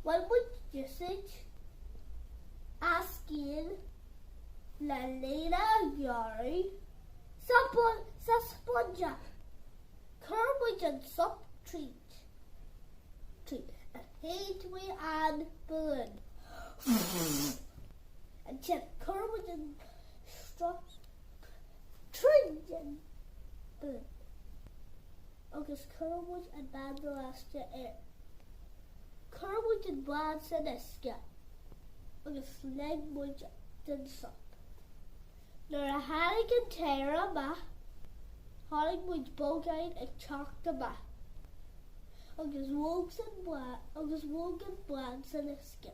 Bhain muid diosca as agus lena ghearradh sa spúinse. Chuir muid an sop tríd agus shéid mé an balún. Ansin, chuir muid an sruth. Tríd an bád agus chuir muid an banda leaisteach air. Chuir muid an bád san uisce agus lig muid den sop. Nuair a tháinig an t-aer amach, chonaic muid bolgáin ag teacht amach agus bhog an bád san uisce.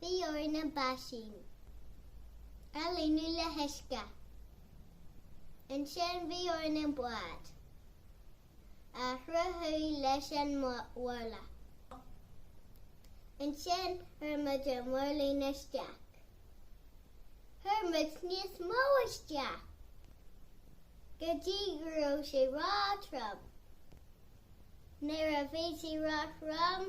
Bhí orainn an báisín a líonadh le huisce. Ansin bhí orainn an bád a chruthú leis an mharla. Ansin chuir muid na mirlíní isteach. Chuir muid níos mó isteach go dtí go raibh sé róthrom. Nuair a bhí sé róthrom,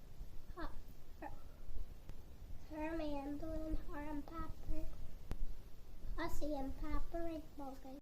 Chuir mé an balún thar an bpáipéar. Thosaigh an páipéar ag bogadh.